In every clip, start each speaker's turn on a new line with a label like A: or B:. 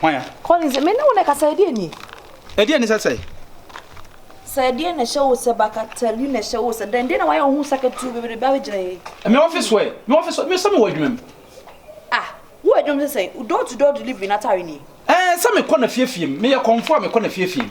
A: Hwan ya? Collins, me ne wo
B: na ɛkasa, ɛdeɛ nie? Ɛdeɛ ne sɛ sɛ? Sɛ ɛdeɛ na ɛhyɛ wo sɛ baka tali na ɛhyɛ wo sɛ dɛn deɛ na wayɛ wo ho sakatuu bebrebe abɛgyina yɛ yi? Me office wɛ,
A: me office wɛ, me sɛ me wɔ adwuma mu. Ah,
B: wo adwuma sɛ sɛ, door to door delivery n'atare nie? Ɛɛ, sɛ mekɔ na
A: fiefie mu, meyɛ kɔmfoɔ a mekɔ na fiefie mu.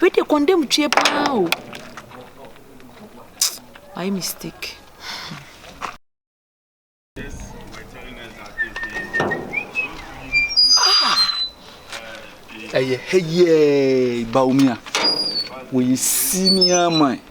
B: Wei deɛ kɔndɛmtwie paa o. Wayɛ mistake.
C: ɛyɛ hɛ yɛɛ baomia wɔyɛ senior man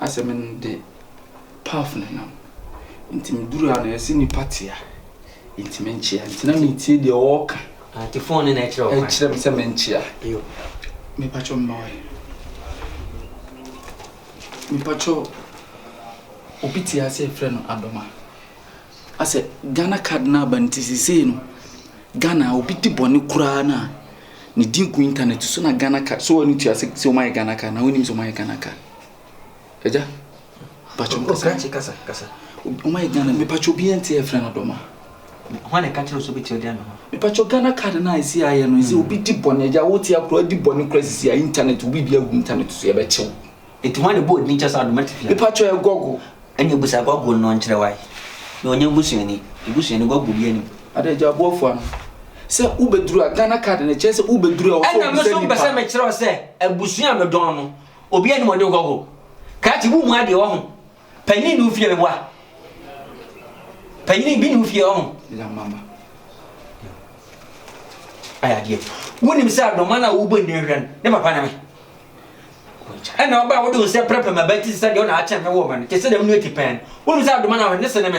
C: Asɛm no de Paf na ɛnam. Nti me duru ha no yɛse nipa te a nti me nkyea. Nti na me tie deɛ ɔɔka. Ah, nti fon no na
D: ɛkyerɛ ɔkwan. Ɛkyerɛ me sɛ me nkyea.
C: Yo.
D: Me patwɔ
C: mma wae. Me patwɔ obi te ase yɛfrɛ no Adoma. Asɛ Ghana card no aba nti sesei no Ghana a obi di bɔne koraa no a ne din gu internet so na Ghana card so wɔ ne tua sɛ wɔn ayɛ Ghana card na wɔn nim sɛ wɔn ayɛ Ghana card ɛgya patro kasa kye kasa
D: kasa wɔn ayɛ
C: Ghana mi patro bi yɛn ti yɛ fɛn ɔdɔm a. Wɔn na ɛka
D: kyerɛ so bi ti ɔdi ano hɔ. Mi patro Ghana card
C: na esi ayɛ no esi hmm. obi di bɔne ɛgya wɔn ti akora di bɔne kora sisi a internet obi bi agu internet so yɛ bɛ kyew. Eti hwan na ebɔɔ
D: din kyɛ saa doma tsifii no? Mepa kyɛw ɛ Gɔgo.
C: Ɛnna bisa Gɔgo
D: no nkyerɛ wo ae na ɔnyɛ busuani. Ebusuani Gɔgo biara nni mu. Ada gya aboafo ano.
C: Sɛ wo bɛ duru a, Ghana card no kyerɛ sɛ wo bɛ duru a ɔsɛ ɔbisa nipa. Ɛnna me nso mpɛ sɛ me kyerɛ
D: wo sɛ abusua a me dɔn no, obiara nni mu ɔgye Gɔgo. Kraate, wo mua deɛ wɔ ho. Panyin nni wo fie meboa. Panyin bi nni wo fie ɔho. Lamama. Ayɛ adeɛ. Wonim sɛ adɔma no a wobɔ nni hwɛ no, ne papa ne me. Ɛna ɔba a wode wo nsɛ pɛrɛpɛ ma bɛti sɛ deɛ ɔna akyɛn me wɔ ma no, te sɛ dɛm nua ti pɛn. Wonim sɛ adɔma no a ne se ne me.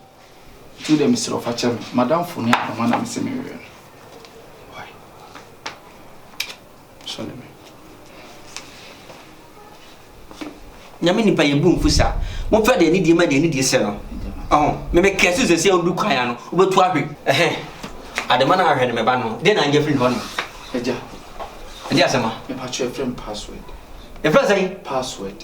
C: Nti wo deɛ mesrɛ wo fa kyɛ me. M'adamfo ne adom a na mese menwɛ no. Why? Sɔle me.
D: Nyame nipa yɛ bu mfu sa. Mo fɛ deɛ ne die ma deɛ ne die sɛ no. Ɔho, me me kɛse sɛ sɛ ɔdu kwan ano, wobɛtu ahwe. Ɛhɛn, adema na ahwɛ no me ba no, deɛ na angya firi hɔ no. Agya.
C: Ɛdi
D: asɛm a. Me pa kyerɛ frɛ me
C: password. Yɛfrɛ sɛn?
D: Password.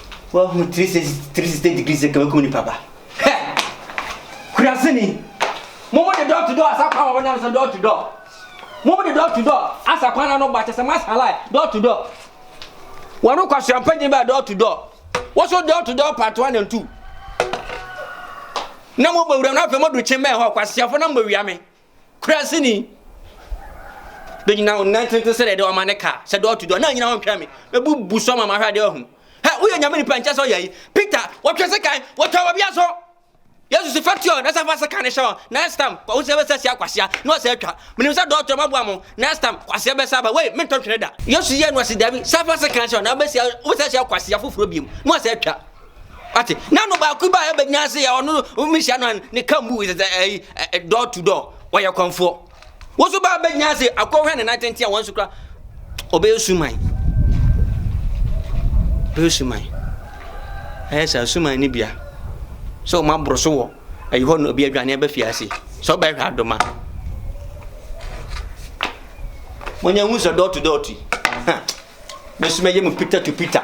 D: Wahu 360 degree sɛ kabakum nipa ba. Hɛ! Kurasini! Mo mo de door to door asa kwan wɔ wɔnam sɛ door to door. Mo mo de door to door asa kwan na no ba kyɛ sɛ mas halai door to door. Wɔn kwasua mpagye ba door to door. Wɔso door to door part one and two. Na mo bɔ wuram na afei mo do kye mɛ hɔ kwasiafo na mo wiame. Kurase ni bɛ nyina wo nan tenten sɛ deɛ ɔma ne ka sɛ dɔɔ to dɔɔ na nyina hɔ ntwa me bɛbu bu so ma mahwɛ adeɛ ɔhu hɛ woyɛ nyame nipa nkyɛ sɛ ɔyɛ yi Peter wɔtwɛ se kan wɔtwa wɔ bia so yesu se fa tuo na sɛ fa se kan ne hyɛ hɔ next time kwa wosɛ bɛsɛ sia kwasea na ɔsɛ atwa menim sɛ dɔɔtɔ ma boa mo next time kwasea bɛsɛ aba wei mentɔ twene da yesu yɛ no ɔse dabi sɛ fa se kan hyɛ hɔ na wobɛsia wosɛ sia kwasea foforɔ biom na ɔsɛ atwa Wate? Na no baako ba a ɛbɛ nyina se yɛ ɔno no mehyia no an ne ka mbu sɛ ɛyi door to door wɔyɛ kɔnfoɔ. Wo so ba bɛ nyina se akɔhwɛ ne nan tenten a wɔn so kura ɔbɛyɛ suman. Ɔbɛyɛ suman. Ɛyɛ sɛ suman ne bia. Sɛ wɔn aboro so wɔ ɛyi hɔ no obi adwane ɛbɛ fi ase. Sɛ ɔbɛhwɛ adoma. Wɔn nyɛ hu sɛ door to door ti. Mesoma yɛ mu pita to pita.